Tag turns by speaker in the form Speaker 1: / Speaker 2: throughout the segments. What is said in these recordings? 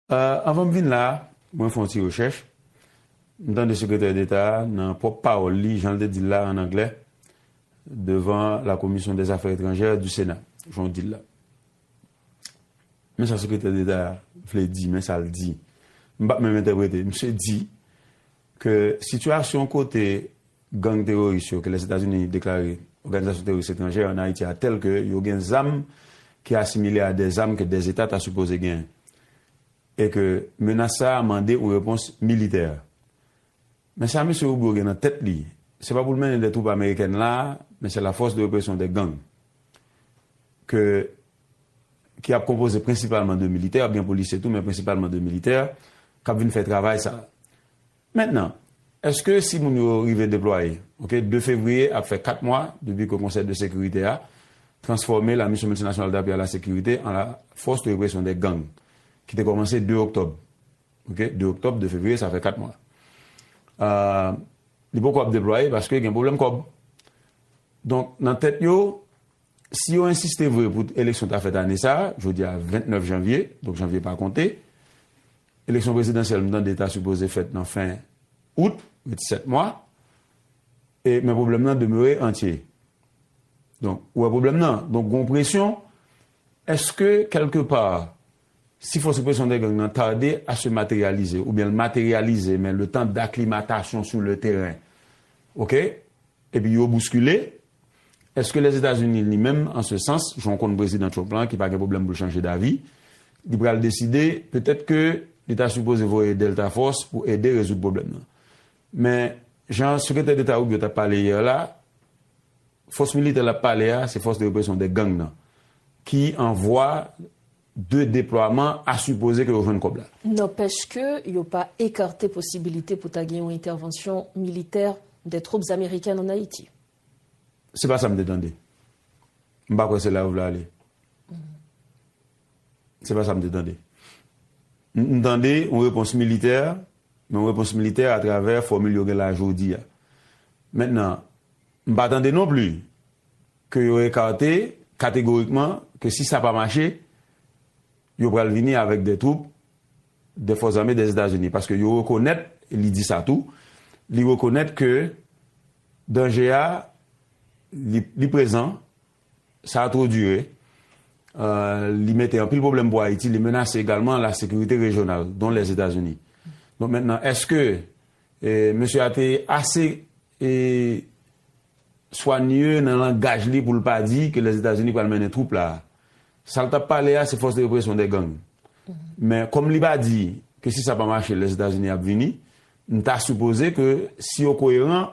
Speaker 1: Anvan m vin la a, mwen fè yon ti rechèch. M tande Sekretè Deta a, nan pwòp pawòl li, jan l te di l la, ann anglè, devan la Commission des Affaires étrangères du Sénat, jan w di l la. Men sa Sekretè Deta a vle di, men sa l di. M pa p menm entèprete. Misye di, Ke sitiyasyon kote gang teroris yo ke Lèzetazini deklare Oganizasyon Teroris Etranjè an Ayiti a tèl ke yo gen zam ki asimile a de zam ke de Zeta ta sipoze genyen e ke menas sa a mande yon repons militè. Men sa Mesye Rubio gen nan tèt li, se pa pou l mennen de twoup amerikèn la a, men se la fòs de represyon de gang ke ki ap konpoze prensipalman de militè, ap gen polisye tou men prensipalman de militè, k ap vin fè travay sa a. Mentnan, èske si moun yo rive deplwaye, ok, 2 fevriye ap fè 4 mwa depi ke Konsèy de Sekirite a transfòme la Mission Multinationale d'Appui à la Sécurité an la Force de Répression des Gangs ki te kòmanse 2 oktòb, ok, 2 oktòb, 2 fevriye, sa fè 4 mwa. Li poko ap deplwaye paske gen pwoblèm kòb. Donk, nan tèt yo, Si yo ensiste vre pou eleksyon ta fèt ane sa a, jodi a 29 janvye, donk janvye pa konte, eleksyon prezidansyèl m tande ta sipoze fèt nan fen out, ret 7 mwa, e men pwoblèm nan demere antye. Donk, ou wè pwoblèm nan? Donk gon presyon, èske kèlke pa, si fòs represyon de gang nan tarde a se materyalize, oubyen l materyalize men le tan daklimatasyon sou le teren, ok, Epi yo bouskile? Eske Lèzetazini li menm, an se sans, jan w konn Prezidan Trump la ki pa gen pwoblèm pou l chanje davi, li pral deside petèt ke li ta sipoze voye Delta Force pou ede rezoud pwoblèm nan. Men, jan Sekretè Deta Rubio t ap pale yè la, fòs militè l ap pale a se fòs de represyon de gang nan ki an vwa 2 deplwaman a sipoze ke yo jwenn kòb la. Nanpèch ke
Speaker 2: yo pa ekarte posibilite pou ta gen yon entèvansyon militè des troupes américaines en Haïti. Se pa
Speaker 1: sa m te tande. M pa kwè se la yo vle ale. Se pa sa m te tande. M tande yon repons militè, men yon repons militè atravè fòmil yo gen la jodi a. Mentnan, m pa tande non pli. ke yo ekate kategorikman ke si sa pa mache, yo pral vini avèk de twoup de fòs zame de Etazini. Paske yo rekonèt, e li di sa tou, li rekonèt ke danje a li prezan, sa a two dire, li mete anpil pwoblèm pou Ayiti, li menase egalman la sekirite rejyonal, don Lèzetazini. Donk mentnan, eske mesye a te ase E Soigne nan langaj li pou l pa di ke Lèzetazini pral mennen twoup la. Sa l t ap pale a se fòs de represyon dè gang. Men kòm li pa di ke si sa pa mache Lèzetazini ap vini, m ta sipoze ke si yo koyeran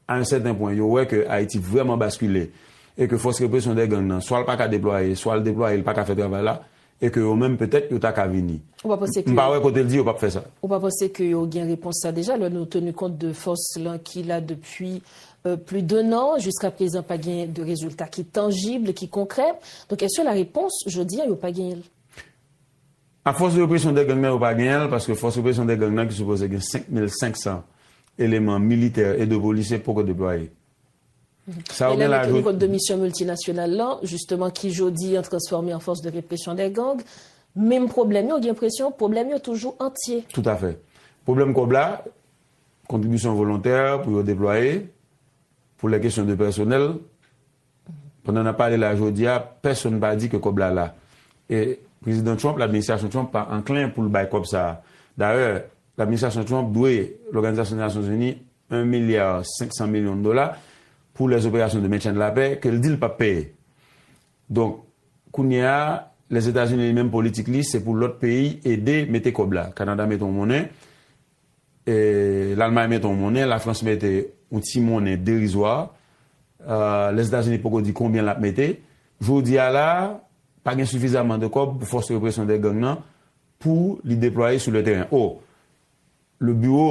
Speaker 1: a yon sèten pwen, yo wè ke Ayiti vrèman baskile e ke fòs represyon dè gang nan swa l pa ka deplwaye, swa l deplwaye li pa ka fè travay la, E ke yo menm petèt yo ta ka vini. Ou pa panse ke. M pa wè
Speaker 2: kote l di yo pap fè sa.
Speaker 1: Ou pa panse ke yo
Speaker 2: gen repons sa deja lè nou tenu kont de fòs lan ki la depi pli d'un an jiska prezan pa gen de rezilta ki tanjib, ki konkrè. Donk eske la repons jodi a yo pa genyen l?
Speaker 1: A fòs de represyon de gang nan yo pa genyen l paske fòs represyon de gang nan ki sipoze gen 5500 eleman militè e 2 polisye poko deplwaye.
Speaker 2: Sa yo gen la jodia. Elève ki kont de misyon miltinasyonal lan, jisteman ki jodi an transfòme an fòs de represyon dè gang, menm pwoblèm yo, gen presyon pwoblèm yo toujou antye. Toutafè.
Speaker 1: Pwoblèm kòb la, kontribisyon volontè pou yo deplwaye, pou lè kesyon de pèsonèl, pandan n ap pale la jodia, pèsonn pa di ke kòb la la. E Prezidan Trump, l'administrasyon Trump pa anklen pou l bay kòb sa a. Dayè, l'administrasyon Trump dwe Lòganizasyon Nasyon Zini 1 milya 500 milyon dola pou lè zoperasyon de mentyen de la pè ke l di l pap peye. Donk, kounye a, Lèzetazini li menm politik li se pou lòt peyi ede mete kòb la. Kanada mete yon monnen, Lalmay mete yon monnen, Lafrans mete yon ti monnen derizwa, Lèzetazini poko di konbyen l ap mete. Jodi a la a, pa gen sifizaman de kòb pou fòs represyon de gang nan pou li deplwaye sou le teren. O, le biwo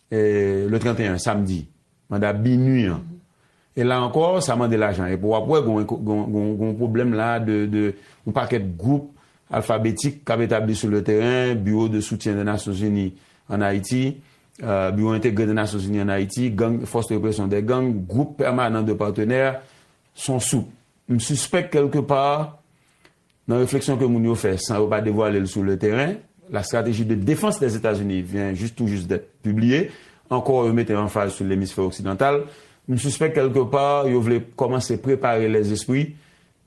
Speaker 1: Le 31, samdi, manda BINUH an. E la ankò, sa mande lajan. Epi w ap wè gen yon pwoblèm la de yon pakèt gwoup alfabetik k ap etabli sou le teren, Biwo de soutyen de Nasyon Zini an Ayiti, Biwo entegre de Nasyon Zini an Ayiti, gang, Fòs de represyon dè gang, gwoup pèmanan de patenè, son soup. M sispèk kèlke pa, Nan refleksyon ke moun yo fè san yo pa devwale l sou le teren, La stratégie de défense des États-Unis vient juste tout juste d'être publiée, ankò yo mete anfaz sou lemisfè oksidantal, m sispèk kèlke pa yo vle kòmanse prepare lèzespri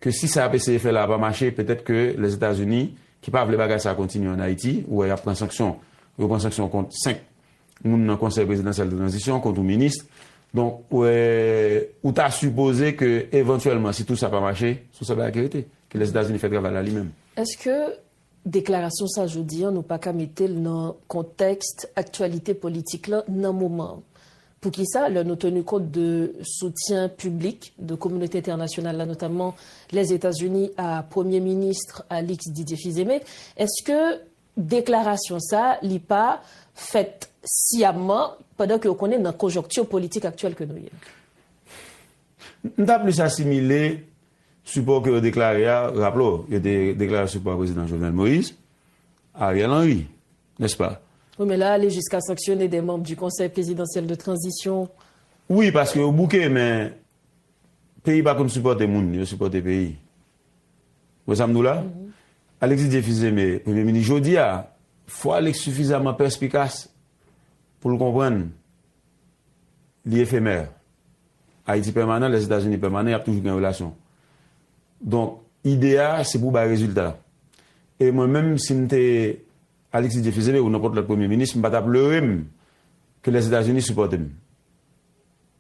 Speaker 1: ke si sa y ap eseye fè la a pa mache, petèt ke Lèzetazini, ki pa vle bagay sa a kontinye an Ayiti, ou wè y ap pran sanksyon, yo pran sanksyon kont 5. moun nan konsèy prezidansyèl de tranzisyon kont yon minis, donk ou ta sipoze ke evantyèlman si tou sa pa mache, son sèl bagay ki rete, ki lè Etazini fè travay la li menm. Eske
Speaker 2: deklarasyon sa jodi an nou pa ka mete l nan kontèks aktyalite politik la nan moman an? Poukisa lè nou teni kont de soutyen piblik de kominote entènasyonal la notamman Lèzetazini a premye minis Alix Didier Fils-Aimé, eske Deklarasyon sa li pa fèt siyamman pandan ke ou konnen nan konjonkti politik aktyèl ke nou ye.
Speaker 1: M ta plis asimile sipò ke yo deklare a, raple w, yo te deklare sipò a Prezidan Jovenel Moïse, Ariel Henry, nèspa? Wi men la ale jiska
Speaker 2: sanksyone de manb di Konsèy Prezidansyèl de Tranzisyon. Wi paske
Speaker 1: yo bouke men peyi pa konn sipòte moun, yo sipòte peyi. Wè sa m di w la? Alexis Dieu Fils Aimé, Premye Minis jodi a, fò Alex sifizaman pèspikas pou l konprann li efemè. Ayiti pèmanan, Lèzetazini pèmanan, y ap toujou gen relasyon. Donk, ide a se pou bay rezilta. E mwen menm, si m te Alexis Dieu Fils Aimé ou nenpòt lòt Premye Minis, m pa t ap leure m ke Lèzetazini sipòte m.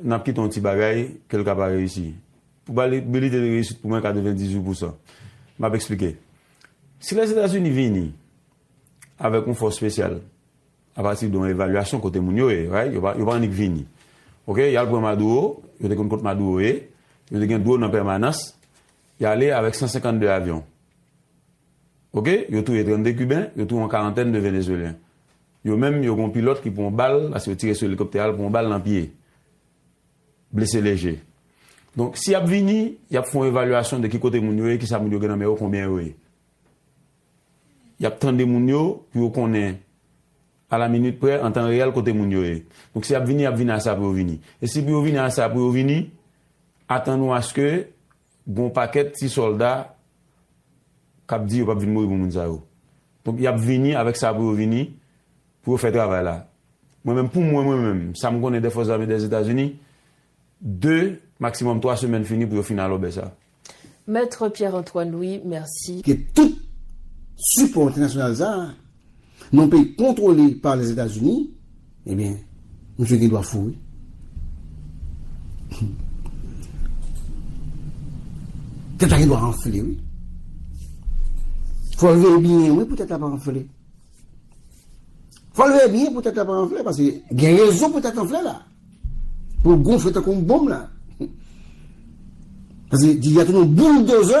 Speaker 1: Nap kite yon ti bagay ke l ka pa reyisi. Pwobabilite de reyisit pou mwen 98 pousan. Map eksplike. Si Lèzetazini vini avèk yon fòs spesyal apati de yon evalyasyon kote moun yo ye, right, yo pa annik vini. Ok, yal pran Maduro, yo te konn kot Maduro ye, yo te gen drone an pèmanans, y ale avèk 152 avyon. Ok, yo touye 32 Kiben, yo touye yon karantèn de Venezuelyen. Yo menm yo gen yon pilòt ki pran yon bal paske yo tire sou elikoptè a, li pran yon bal nan pye. Blese leje. Donk, si y ap vini, y ap fè yon evalyasyon de ki kote moun yo ye, kisa moun yo gen nan men yo, konbyen yo ye. Y ap tande moun yo pou yo konnen a la minit prè, an tan reyèl kote moun yo ye. Donk, si y ap vini, y ap vini a sa pou yo vini. E si pou yo vini a sa pou yo vini, atann nou aske. Gen yon pakèt ti sòlda k ap di yo p ap vin mouri pou moun sa yo. Donk, y ap vini avèk sa pou yo vini, pou yo fè travay la. Mwen menm, pou mwen mwen menm, sa m konnen dè fòs zame dè Etazini, de, maksimòm twa semèn fini pou yo fin alòbè sa. Maître
Speaker 2: Pierre Antoine Louis, mèsi. Ke tout
Speaker 3: sipò entènasyonal sa a. Nan yon peyi kontwole pa Lèzetazini, ebyen, misye gen dwa fou wi. Tèt la gen dwa anfle wi. Fò l veye byen wi pou tèt la pa anfle. Fò l veye byen pou tèt la pa anfle paske gen rezon pou tèt anfle la. Pou l gonfle tankou yon bonm la. Paske di a tou nou boul dozè.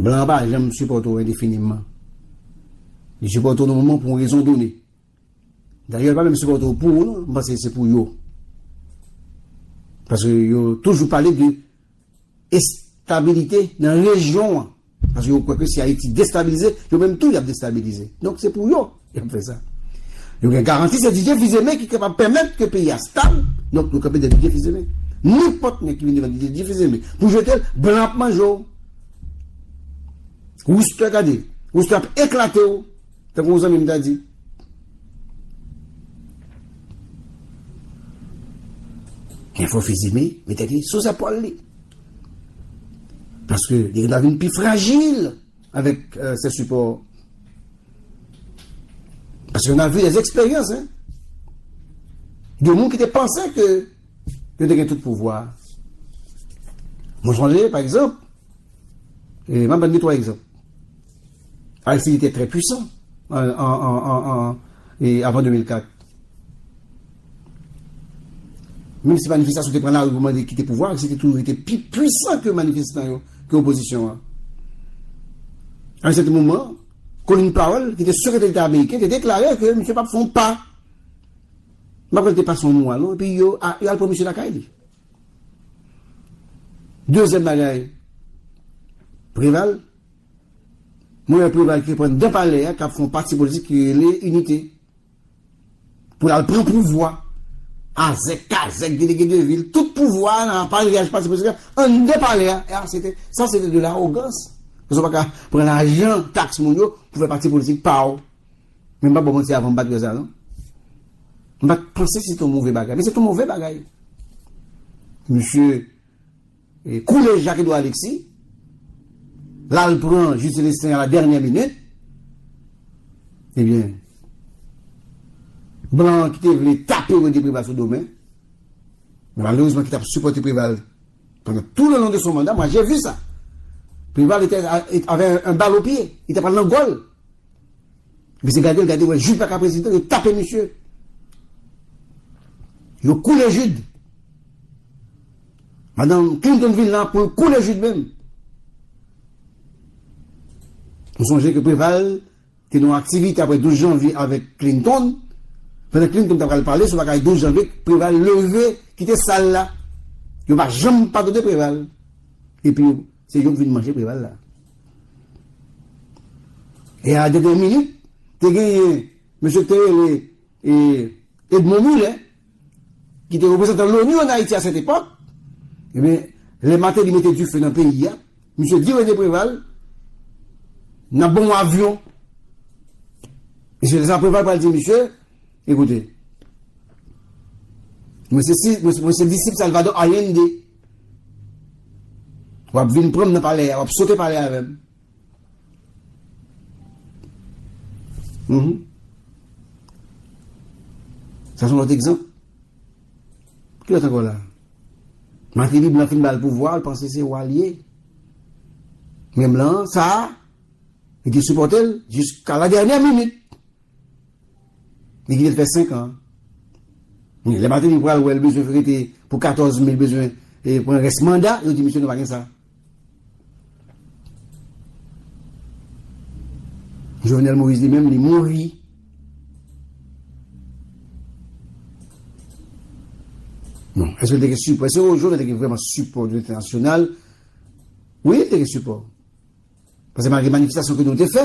Speaker 3: Blan an pa janm sipòte w endefinimman. Li sipòte w nan moman pou yon rezon done. Dayè, li pa menm sipòte w pou ou non, m panse se pou yo. Paske yo toujou pale de estabilite nan rejyon an. Paske yo kwè ke si Ayiti destabilize, yo menm tou y ap destabilize. Donk se pou yo y ap fè sa. Yo gen garanti se Didye Fizeme ki kapab pèmèt ke peyi a stab, donk yo kanpe dèyè Didye Fizeme. Nenpòt nèg ki vin devan Didye Fizeme pou jete l, blan ap manje w. Rous te gade, rous te ap eklate w, tankou yon zanmi m ta di. Enfo Fizeme mete li sou zèpòl li. Paske li gen dwa vin pi frajil avèk sè sipò. Paske nan vi, lè zèksperyans, gen moun ki te panse ke yo te gen tout pouvwa. Mwen sonje, pa egzanp, e mwen ban ni twa egzanp. Aristil te trè pwisan an avan 2004. Menm si manifestasyon te pran lari pou mande kite pouvwa a, se te toujou rete pi pwisan ke manifestan yo, ke opozisyon an. A yon sèten moman, Colin Powell, ki te Sekretè Deta Ameriken, te deklare ke misye pap fè yon pa. M pa kwè li te pase yon mwa non, epi yo al pran misye lakay li. Dezyèm bagay, Preval, mwen wè Preval ki reprann dan palè a, kap fè yon pati politik ki rele Inite. Pou lal pran pouvwa. Azèk kazèk delege de vil tout pouvwa nan apareyaj pati prezidan anndan palè a e a se te sa se te de lawogans paske ou pa ka pran lajan taks moun yo pou fè pati politik pa ou men m pa bò manti avan m pa t wè sa non m pa t panse se te yon move bagay men se te yon move bagay mesye Koule Jacques Edouard Alexis lal pran Jude Celestin a la dènyè minit ebyen blan an ki te vle tape Rene Preval sou do men malerezman ki tap sipòte Preval pandan tou le long de son manda moi j'ai vu ça Preval etè avè un bal au pied li ta pral nan gòl misye gadel gade wè Jude paka prezidan yo tape misye yo koule Jude. Madan Clinton vin la poul koule jus menm. Nou sonje ke Preval te nan aktivite apre 12 janvye avèk Clinton, pandan Clinton ta pral pale sou bagay 12 janvye, Preval leve kite sal la. Yo pa janm padone Preval. Epi yo, se yo k vin manje Preval la. E a la dènye minit, te genyen mesye k te rele Edmond Mulet, ki te reprezantan l'ONU an Ayiti a sèt epòk, ebyen lè Martelly mete dife nan peyi a, misye di René Préval nan bon w avyon, e se lè sa Préval pral di misye, ekoute, mwen se disip Salvador Allende, wap vin pran m nan palè a, wap sote palè avè m. Uhmm. Sa son lòt egzanp. Ki lòt ankò la? Martelly blan fin bal pouvwa, li panse se wa li ye. Men blan an, sa a, li te sipòte l jiska la dènyè minit. Li kite l fè 5 an. Men lè Martelly pral wè l bezwen rete pou 14 me l bezwen pran rès manda, yo di misye nou pa gen sa. Jovenel Moïse li menm li mouri. Bon, eske li te gen sipò? Eske Jovenel te gen vreman sipò de l'Internasyonal? Wi, li te gen sipò. Pase malgre manifestasyon ke nou te fè,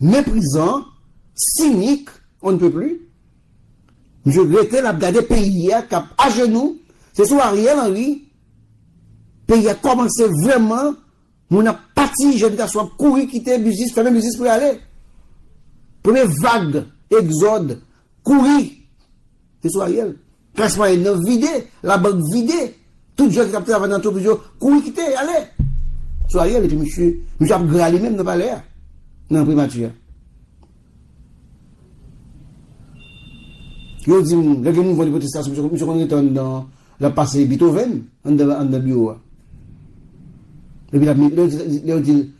Speaker 3: Meprizan, sinik, on ne peut plus. Misye rete lap gade peyi a kap ajenou, se sou Ariel Henry peyi a kòmanse vrèman, moun ap pati, jèn gason ap kouri kite biznis, fèmen biznis pou yo ale. Premye vag egzòd, kouri, se sou Ariel. Klas mwayèn nan vide, labank vide, tout jèn ki t ap travay nan antrepriz yo kouri kite, y ale. Sou Ariel epi misye, misye ap gra li menm nan palè a, nan enprimati a. Yo di m, lè gen mouvman de pwotestasyon, misye konn rete anndan, l ap pase Beethoven anndan biwo a. Epi l ap, lè yo di l,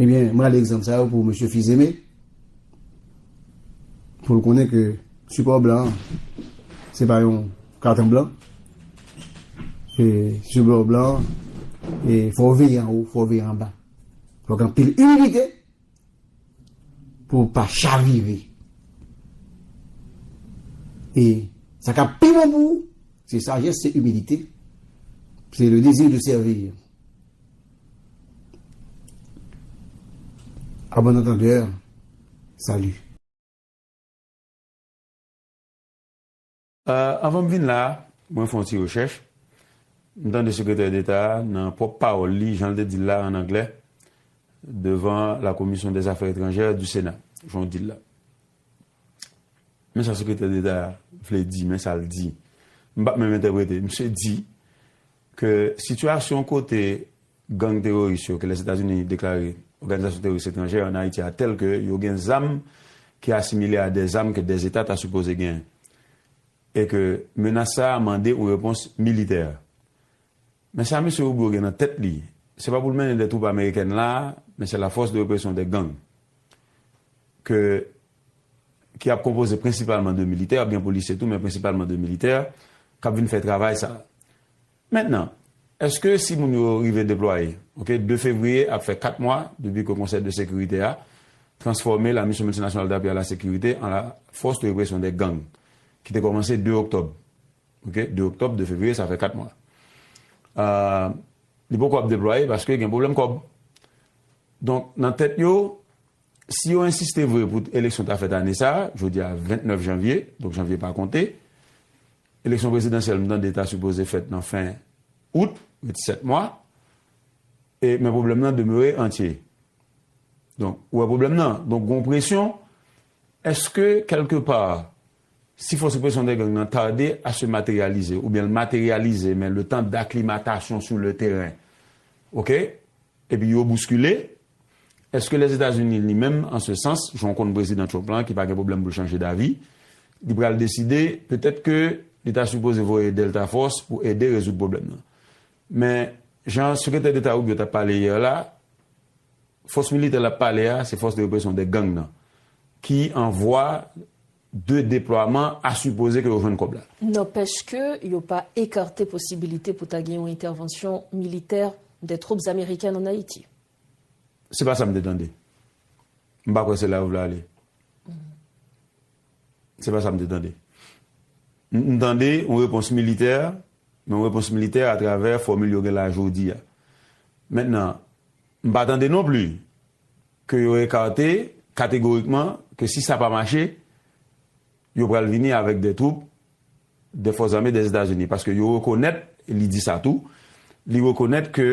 Speaker 3: Ebyen, m rale egzanp sa yo pou mesye Fils-Aimé, pou l konnen ke sipò blan an, se pa yon katon blan, e sipò blan an, e fò w veye anwo, fò w veye anba. Fòk anpil imilite pou ou pa chavire. E sa kap pi bon pou ou, se sajès, se imilite, se le dezi de sèvir. A bon antandè, sali.
Speaker 1: Anvan m vin la a, mwen fè yon ti rechèch. M tande Sekretè Deta a, nan pwòp pawòl li, jan l te di l la, ann anglè, devan la Commission des Affaires étrangères du Sénat, jan w di l la. Men sa Sekretè Deta a vle di, men sa l di. M pa p menm entèprete. Misye di, Ke sitiyasyon kote gang teroris yo ke Lèzetazini deklare Oganizasyon Teroris Etranjè an Ayiti a tèl ke yo gen zam ki asimile a de zam ke de Zeta ta sipoze genyen e ke menas sa a mande yon repons militè. Men sa Mesye Rubio gen nan tèt li, se pa pou l mennen de twoup amerikèn la a, men se la fòs de represyon de gang ke ki ap konpoze prensipalman de militè, ap gen polisye tou men prensipalman de militè, k ap vin fè travay sa a. Mentnan, èske si moun yo rive deplwaye, ok, 2 fevriye ap fè 4 mwa depi ke Konsèy de Sekirite a transfòme la Mission Multinationale d'Appui à la Sécurité an la Force de Répression des Gangs ki te kòmanse 2 oktòb, ok, 2 oktòb, 2 fevriye, sa fè 4 mwa. Li poko ap deplwaye paske gen pwoblèm kòb. Donk, nan tèt yo, Si yo ensiste vre pou eleksyon ta fèt ane sa a, jodi a 29 janvye, donk janvye pa konte, eleksyon prezidansyèl m tande ta sipoze fèt nan fen out, ret 7 mwa, e men pwoblèm nan demere antye. Donk, ou wè pwoblèm nan? Donk gon presyon, èske kèlke pa, si fòs represyon de gang nan tarde a se materyalize, oubyen l materyalize men le tan daklimatasyon sou le teren, ok, Epi yo bouskile? Eske Lèzetazini li menm, an se sans, jan w konn Prezidan Trump la ki pa gen pwoblèm pou l chanje davi, li pral deside petèt ke li ta sipoze voye Delta Force pou ede rezoud pwoblèm nan? Men, jan Sekretè Deta Rubio t ap pale yè la, fòs militè l ap pale a se fòs de represyon de gang nan ki an vwa 2 deplwaman a sipoze ke yo jwenn kòb la. Nanpèch ke
Speaker 2: yo pa ekarte posibilite pou ta gen yon entèvansyon militè des troupes américaines en Haïti. Se pa
Speaker 1: sa m te tande. M pa kwè se la yo vle ale. Se pa sa m te tande. M tande yon repons militè, men yon repons militè atravè fòmil yo gen la jodi a. Mentnan, m pa tande non pli. ke yo ekate kategorikman ke si sa pa mache, yo pral vini avèk de twoup de fòs zame de Etazini. Paske yo rekonèt, e li di sa tou, li rekonèt ke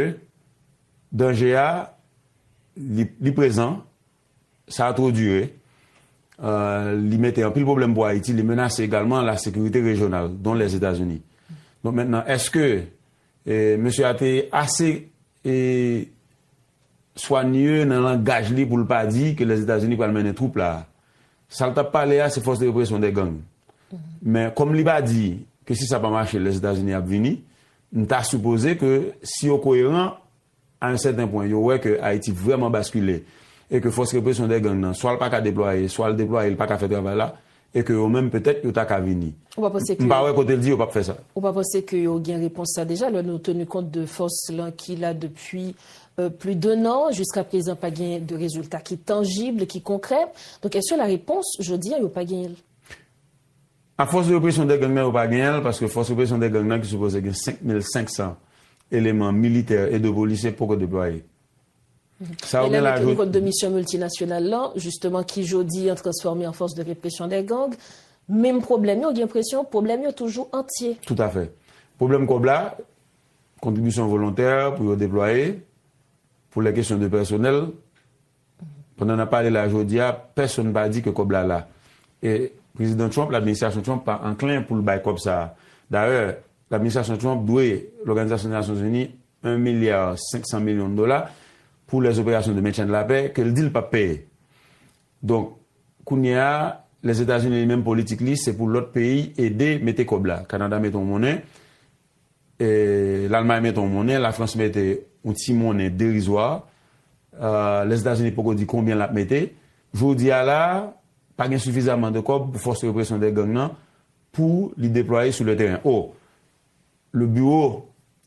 Speaker 1: danje a li prezan, sa a two dire, li mete anpil pwoblèm pou Ayiti, li menase egalman la sekirite rejyonal, don Lèzetazini. Donk mentnan, eske mesye a te ase E Soigne nan langaj li pou l pa di ke Lèzetazini pral mennen twoup la. Sa l t ap pale a se fòs de represyon dè gang. Men kòm li pa di ke si sa pa mache Lèzetazini ap vini, m ta sipoze ke si yo koyeran a yon sèten pwen, yo wè ke Ayiti vrèman baskile e ke fòs represyon dè gang nan swa l pa ka deplwaye, swa l deplwaye li pa ka fè travay la, E ke yo menm petèt yo ta ka vini. Ou pa panse ke. M pa wè
Speaker 2: kote l di yo pap fè sa.
Speaker 1: Ou pa panse ke yo gen
Speaker 2: repons sa deja lè nou tenu kont de fòs lan ki la depi pli d'un an jiska prezan pa gen de rezilta ki tanjib, ki konkrè. Donk eske la repons jodi a yo pa genyen l?
Speaker 1: A fòs de represyon de gang nan yo pa genyen l paske fòs represyon de gang nan ki sipoze gen 5500 eleman militè e 2 polisye poko deplwaye.
Speaker 2: Sa yo gen la yo. Kont de misyon miltinasyonal lan, jisteman ki jodi an transfòme an fòs de represyon dè gang, menm pwoblèm yo,
Speaker 1: gen
Speaker 2: presyon
Speaker 1: pwoblèm
Speaker 2: yo toujou
Speaker 1: antye.
Speaker 2: Toutafè. Pwoblèm
Speaker 1: kòb la, kontribisyon volontè pou yo deplwaye, pou lè kesyon de pèsonèl, pandan n ap pale la jodi a, pèsonn pa di ke kòb la la. E Prezidan Trump, Administrasyon Trump pa anklen pou l bay kòb sa a. Dayè, Administrasyon Trump dwe Lòganizasyon Nasyonzini 1 milya 500 milyon dola pou lè zoperasyon de mentyen de la pè ke l di l pap peye. Donk, kounye a, Lèzetazini li menm politik li se pou lòt peyi ede mete kòb la. Kanada mete yon monnen, Lalmay mete yon monnen, Lafrans mete yon ti monnen derizwa, Lèzetazini poko di konbyen l ap mete. Jodi a la a, pa gen sifizaman de kòb pou fòs represyon de gang nan pou li deplwaye sou le teren. O, le biwo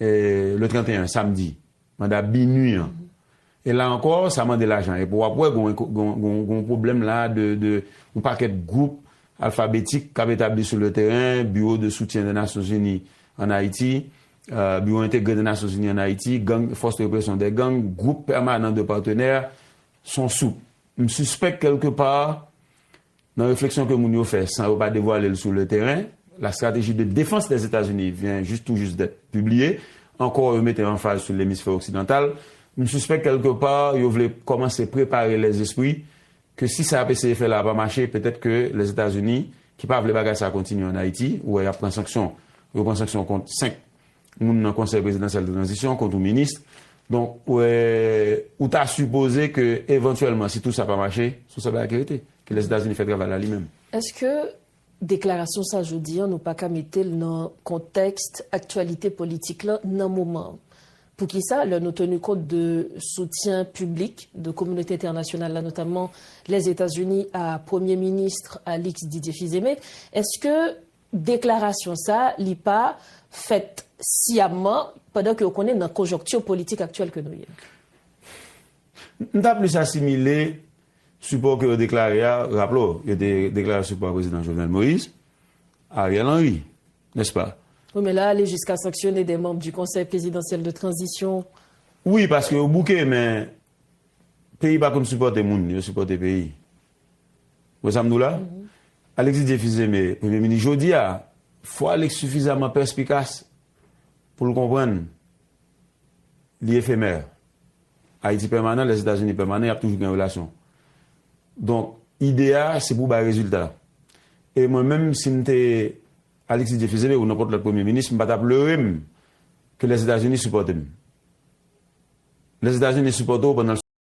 Speaker 1: Le 31, samdi, manda BINUH an. E la ankò, sa mande lajan. Epi w ap wè gen yon pwoblèm la de yon pakèt gwoup alfabetik k ap etabli sou le teren, Biwo de soutyen de Nasyon Zini an Ayiti, Biwo entegre de Nasyon Zini an Ayiti, gang, Fòs de represyon dè gang, Gwoup pèmanan de patenè, son soup. M sispèk kèlke pa, Nan refleksyon ke moun yo fè san yo pa devwale l sou le teren, La stratégie de défense des États-Unis vient juste tout juste d'être publiée, ankò yo mete anfaz sou lemisfè oksidantal, m sispèk kèlke pa yo vle kòmanse prepare lèzespri ke si sa y ap eseye fè la a pa mache, petèt ke Lèzetazini, ki pa vle bagay sa a kontinye an Ayiti, ou wè y ap pran sanksyon, yo pran sanksyon kont 5. moun nan konsèy prezidansyèl de tranzisyon kont yon minis, donk ou ta sipoze ke evantyèlman si tou sa pa mache, son sèl bagay ki rete, ki lè Etazini fè travay la li menm. Eske
Speaker 2: deklarasyon sa jodi an nou pa ka mete l nan kontèks aktyalite politik la nan moman an? Poukisa lè nou tenu kont de soutyen piblik de kominote entènasyonal la notamman Lèzetazini a premye minis Alix Didier Fils-Aimé, eske Deklarasyon sa li pa fèt siyamman pandan ke ou konnen nan konjonkti politik aktyèl ke nou ye. M ta plis
Speaker 1: asimile sipò ke yo deklare a, raple w, yo te deklare sipò a Prezidan Jovenel Moïse, Ariel Henry, nèspa? Wi men la ale jiska
Speaker 2: sanksyone de manb di Konsèy Prezidansyèl de Tranzisyon. Wi paske
Speaker 1: yo bouke men peyi pa konn sipòte moun, yo sipòte peyi. Wè sa m di w la? Alexis Dieu Fils Aimé, Premye Minis jodi a, fò Alex sifizaman pèspikas pou l konprann li efemè. Ayiti pèmanan, Lèzetazini pèmanan, y ap toujou gen relasyon. Donk, ide a se pou bay rezilta. E mwen menm, si m te Alexis Dieu Fils Aimé ou nenpòt lòt Premye Minis, m pa t ap leure m ke Lèzetazini sipòte m. Lèzetazini sipòte w pandan l.